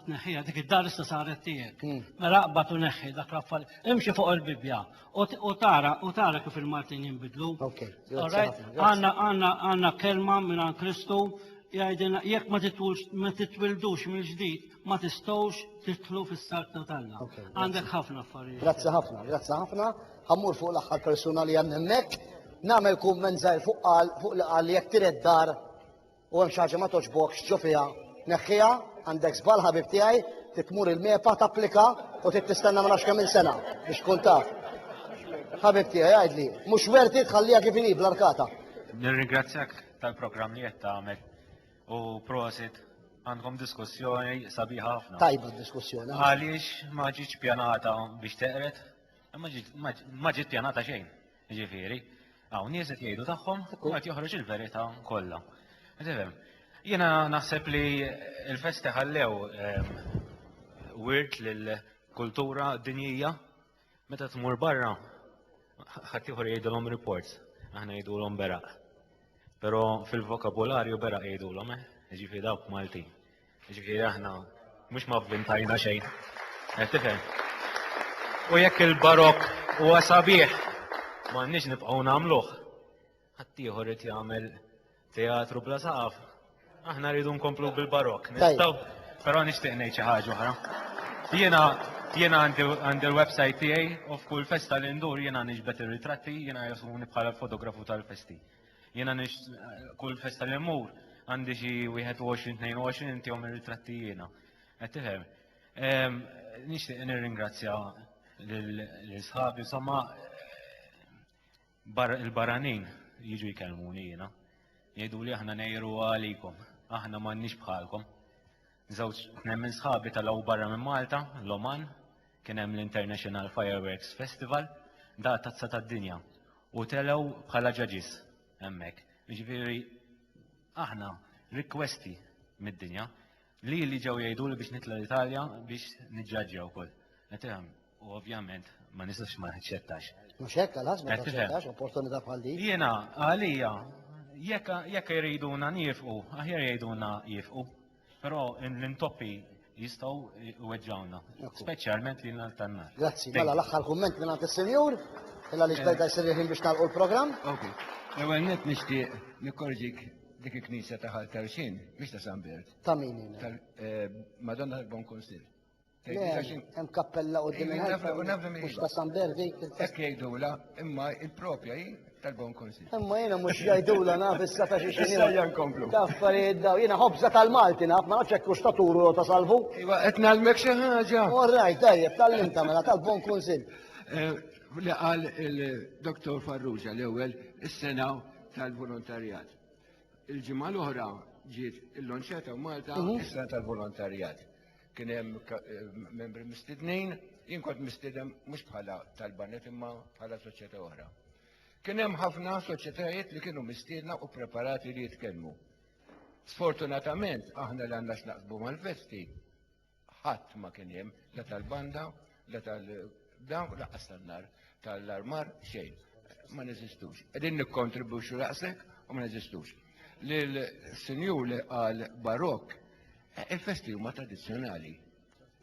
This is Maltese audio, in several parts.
tneħħiha dik id-dar issa saret tiegħek. Hmm. Mela aqbad u neħħi dak l-affar. Imxi fuq il-Bibbja u tara u tara kif il-Maltin jinbidlu. Għanna għanna għanna kelma minn għan Kristu jgħidilna jekk ma titwux ma titwildux mill-ġdid ma tistgħux titlu fis-sarta tagħna. Għandek ħafna affarijiet. Grazzi ħafna, grazzi ħafna. Ħammur fuq l-aħħar persuna li hemm hemmhekk. Nagħmel kumment żgħir fuq qal fuq li qal jekk tired dar u hemm xi ħaġa ma togħġbokx ġo fiha, neħħiha, għandek żball ħabib tiegħi, trid tmur il-MEPA tapplika u trid tistenna ma nafx kemm sena biex tkun taf. Ħabib tiegħi għidli, mhux werti tħalliha kif inhi bl-arkata. Nirringrazzjak tal-programm li qed tagħmel u prosit għandkom diskussjoni sabiħa ħafna. Tajba d-diskussjoni. Għaliex ma ġietx pjanata biex teqret, ma ġiet pjanata xejn. Jiġifieri, hawn nies qed jgħidu tagħhom u qed joħroġ il-verità kollha. Tifhem? Jiena naħseb li l-festi ħallew ehm, wirt lill-kultura dinjija meta tmur barra ħadd ieħor jgħidulhom reports, aħna jgħidulhom beraq. Però fil-vokabularju beraq jgħidulhom, eh? Jiġifieri dawk Maltin. Ġifieri aħna mhux ma vvintajna xejn. Qed tifhem? U jekk il-barokk huwa sabiħ, m'għandniex nibqgħu nagħmluh. Ħaddieħor irid jagħmel teatru bla saqaf. Aħna rridu nkomplu bil-barokk. Nistgħu? Però nixtieq ngħid xi ħaġa oħra. Jiena jiena għandi l-website tiegħi u f'kull festa li ndur jiena niġbed ir-ritratti, jiena jasuni bħala l-fotografu tal-festi. Jiena nix kull festa li mmur għandi xi 21-22 intihom ir-ritratti jiena. Qed tifhem? Ehm, Nixtieq nirringrazzja lil sħabi, insomma bar- il-baranin jiġu jkellmuni jiena. Jgħidu li aħna nejru għalikom, aħna m'għandniex bħalkom. Żewġ tnejn minn sħabi talgħu barra minn Malta, l-Oman, kien hemm l-International Fireworks Festival, daqqa tazza tad-dinja, u telgħu bħala judges hemmhekk. Jiġifieri aħna rikwesti mid-dinja, lili ġew jgħiduli biex nitla' l-Italja biex niġġaġġja wkoll. U ovvjament ma nistax ma naċċettax. Mhux hekk għalħas ma taċċettax opportunità bħal din. Jiena għalija jekk jriduna nifqu, aħjar jgħiduna jifqu. Però l-intoppi jistgħu weġġawna, speċjalment li nhar tan-nar. Grazzi, mela l-aħħar kumment minn għand is-senjur, illa li xbejda jsirriħin biex nagħlqu l-programm. L-ewwel net nixtieq nikkorġik dik il-knisja ta' ħal Tarxin, mhix ta' San Bert. Ta' min? Eh, Madonna tal-Bon Konsil. Hemm kappella qudiem il-ħajfa u nafhem mhux ta' San Berdi. Hekk jgħidula, imma il-propja hi tal-Bon Konsil. Imma jiena mhux jgħidula naf issa ta' xi xi. Issa nkomplu. Affarijiet daw, jiena ħobża tal-Malti naf, ma nafx hekk hux ta' turu ta' salvu. Iva, qed nagħlmek xi ħaġa. All right, tajjeb, tal-limta mela tal-Bon Konsil. Eh, li qal il-Dr. Farrugia l-ewwel is-sena tal-volontarjat. Il-ġimgħa l-oħra ġiet il-lonċeta u Malta mhm. is-sena tal-volontarjat. kien hemm membri mistednin, jien kont mistieden mhux bħala tal-banet imma bħala soċjetà oħra. Kien hemm ħafna soċjetajiet li kienu mistiedna u preparati li jitkellmu. Sfortunatament aħna li għandna x'naqsbu mal-festi ħadd ma kien hemm la tal-banda La tal-dawn laqqas tan-nar, tal-armar xejn, ma neżistux. Qegħdin nikkontribwixxu daqshekk u ma neżistux. Lil sinjur li qal barokk, eh, il-festi huma tradizzjonali.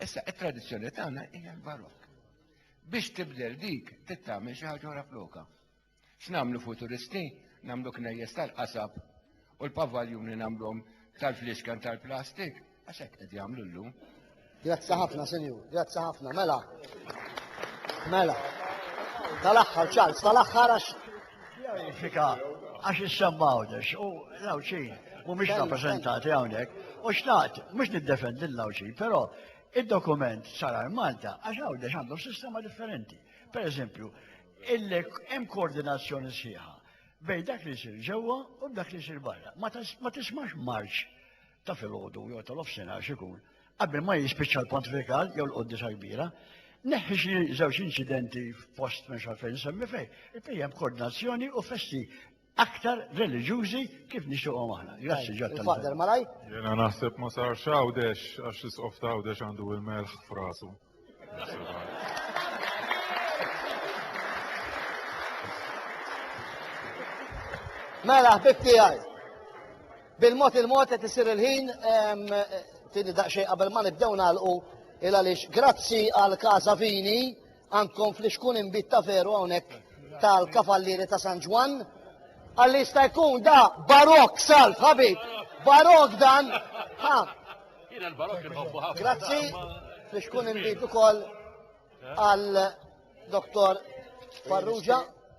Issa it-tradizzjoni tagħna hija l-barokk. Biex tibdel dik, tittamel xi ħaġa ora floka. X'nagħmlu futuristi? Nagħmlu knejjes tal-qasab u l-pavaljuni nagħmluhom tal-fliexken tal-plastik? Għax hekk qed jagħmlu llum. Grazzi ħafna, Sinjur. Grazzi ħafna. Mela. Mela. Tal-aħħar, Charles, tal-aħħar għax. Fika, għax issemma għawdex, u l-għawċin, u mux rappresentati għawnek, u xtaqt, mux niddefendi l-għawċin, pero il-dokument sarar Malta, għax għawdex għandhom sistema differenti. Per eżempju, Illek hemm koordinazzjoni sħiħa bejn dak li jsir ġewwa u b'dak li jsir barra. Ma tismax marċ ta' filgħodu jew ta' nofsinhar x'ikun qabel ma jispiċċa l-pontifikal jew l-qoddisa kbira. Neħħi xi żewġ inċidenti f'post minn xalfejn semmi fej, il-pejjem koordinazzjoni u festi aktar reliġjużi kif nixtieqhom aħna. Grazzi ġod tal Fader malaj. Jena naħseb ma sar xawdex għax l-isqof ta' għawdex għandu il-melħ frasu. Mela, ħbib tiegħi. Bil-mod il-mod qed isir il-ħin tini daqsxejn qabel ma nibdew nagħlqu il għaliex grazzi għal Casa Vini Ankom fl-ixkun inbid ta' veru hawnhekk tal-Kavallieri ta' San Ġwann. Għalli jista' jkun da barok salv ħabib. Barok dan. Ha. Jiena l-barok inħobbu ħafna. Grazzi. Fl-ixkun inbid ukoll għal Dr. Farrugia.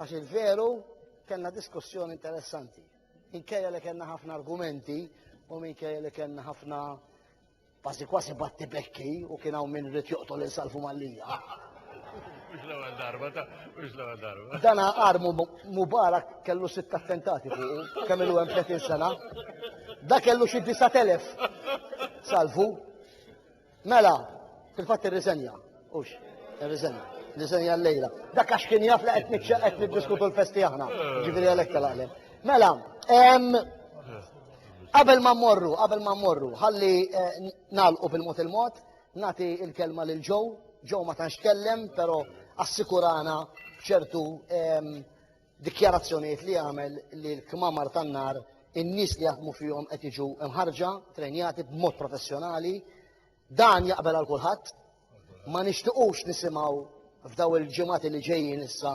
Għax il-veru kellna diskussjoni interessanti. Minkejja li kellna ħafna argumenti u minkejja li kellna ħafna kważi kważi batti bekki u kien hawn min rid joqtol insalfu mallija. Mux l-ewwel darba, mux l-ewwel darba. Dana armu Mubarak kellu sitt attentati fuq, kemm ilu hemm 30 sena. Da kellu xi 9000 salvu. Mela, fil-fatt irriżenja, hux, irriżenja, irriżenja l-lejla. Dak għax kien jaf li qed qed niddiskutu l-festi aħna, ġifieri għalhekk tal-għalem. Mela, qabel ma mmorru, qabel ma mmorru, ħalli eh, nagħlqu bil-mod il-mod, nagħti il-kelma lil Joe, Joe ma tantx tkellem, però assikurana b'ċertu dikjarazzjonijiet li jagħmel li l-kmamar tan-nar in-nies li jaħdmu fihom qed jiġu mħarrġa, trejnjati b'mod professjonali. Dan jaqbel għal kulħadd. Ma nixtiqux nisimgħu f'daw il-ġimgħati li ġejjin issa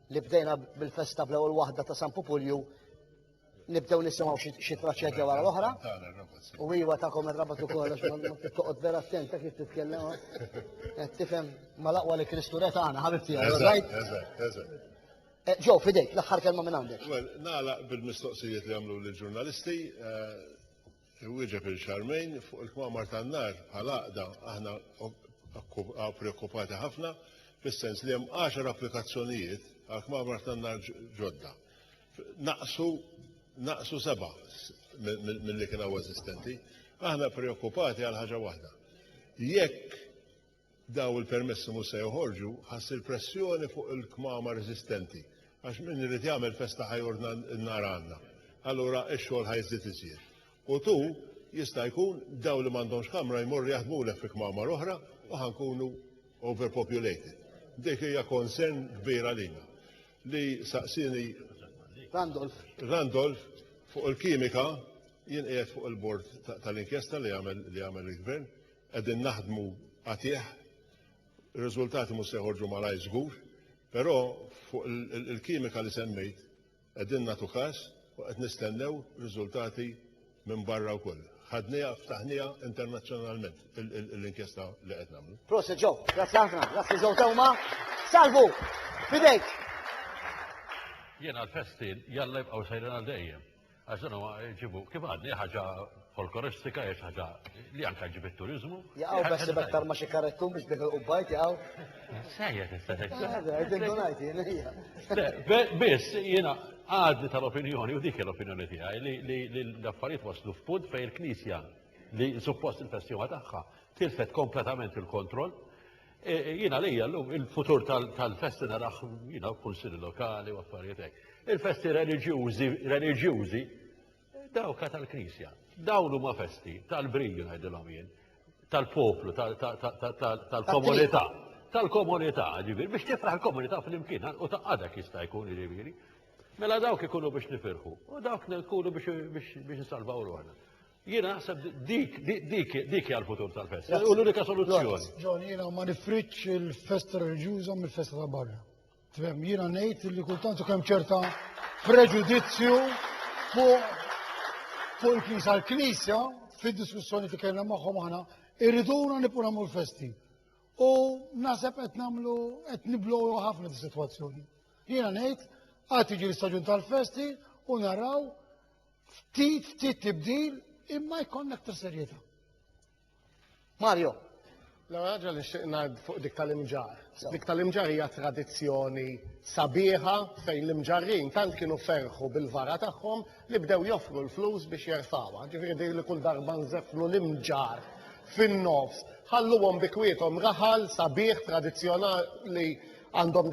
li bdejna bil-festa bl-ewwel waħda ta' San Pupulju nibdew nisimgħu xi traċedja wara l-oħra. U iwa tagħkom ir-rabat ukoll għax toqgħod vera attent ta' kif titkellem. Eh, tifhem mal-aqwa li Kristu re tagħna ħabibti għajt. Eh, ġew fidejk l-aħħar kelma minn għandek. Well, nagħlaq bil-mistoqsijiet li għamlu l-ġurnalisti. Eh, Inwieġeb lil Charmaine, fuq il-kmamar tan-nar, bħala għaqda, aħna preokkupati ħafna fis-sens li hemm għaxar applikazzjonijiet għal kmamar tan-nar ġodda. Naqsu naqsu seba' milli kien hawn eżistenti. Aħna preokkupati għal ħaġa waħda. Jekk Dawn il-permessi mhux se joħorġu ħass il-pressjoni fuq il-kmamar eżistenti għax min irid jagħmel festa ħa jordna n-nar għandna. Allura x-xogħol ħa jiżdied iżjed. U tu, jista' jkun, dawn li m'għandhomx kamra jmorru jaħdmulek fi kmamar oħra u ħa nkunu overpopulated. Dik hija concern kbir għalina. Li saqsieni Randolph. Randolph fuq il-kimika, jien qiegħed fuq il-bord tal-inkjesta li għamel il-Gvern, Qegħdin naħdmu qatigħ. Ir-riżultati mhux se joħorġu malajr żgur, però fuq il-kimika li semmejt qegħdin nagħtu każ u qed nistennew riżultati minn barra wkoll. Ħadniha, ftaħniha internazzjonalment l-inkjesta li qed nagħmlu. Proset Joe, grazzi ħafna, grazzi Joe Teuma. Salvu, fidejk! Jiena l-festi jalla jibqgħu sejrin għal dejjem. Għax dan huwa ġibu kif għadni ħaġa folkloristika hija ħaġa li anke ġib it-turiżmu. Jaqgħu beħsib aktar ma xi karettu biex dik il-qubbajt jaqgħu. Sejja tista' Biss jiena għadni tal-opinjoni u dik l-opinjoni tiegħi li l-affarijiet waslu f'punt fejn il-Knisja li suppost il-festival tagħha tilfet kompletament il-kontroll E, e, jina lija l-lum il-futur tal-festi narax jina kunsil lokali u affarijiet hekk. Il-festi reliġjużi, reliġjużi, dawka tal-Knisja. Dawn huma festi tal-briju ngħidilhom jien, tal-poplu, tal-komunità. Tal-komunità, ġifieri, biex tifraħ il-komunità fl-imkien u ta' għadak jista' jkun ġifieri. Mela dawk ikunu biex nifirħu, u dawk ikunu biex nsalvaw ruħna. Jiena naħseb dik dik dik hija l-futur tal-festa. U l-unika soluzzjoni. Ġon, jiena ma nifriċ il-festa reliġjuża mill-festa ta' barra. Tfhem, jiena ngħid li kultant kemm ċerta preġudizzju fuq fuq il-Knisja. L-Knisja fid-diskussjoni li kellna magħhom aħna irriduna nibqgħu nagħmlu l-festi. U naħseb qed nagħmlu qed niblow ħafna dis-sitwazzjoni. Jiena ngħid għad tiġi l-istaġun tal-festi u naraw Ftit, ftit tibdil, imma jkollna aktar serjetà. Mario. L-ewwel ħaġa li xtieq ngħid fuq dik tal-imġar. Dik tal-imġar hija tradizzjoni sabiħa fejn l-imġarrin tant kienu ferħu bil-vara tagħhom li bdew joffru l-flus biex jerfawha. Ġifieri li kull darba nżefflu l-imġar fin-nofs, ħalluhom bikwietom raħal sabiħ tradizzjonali għandhom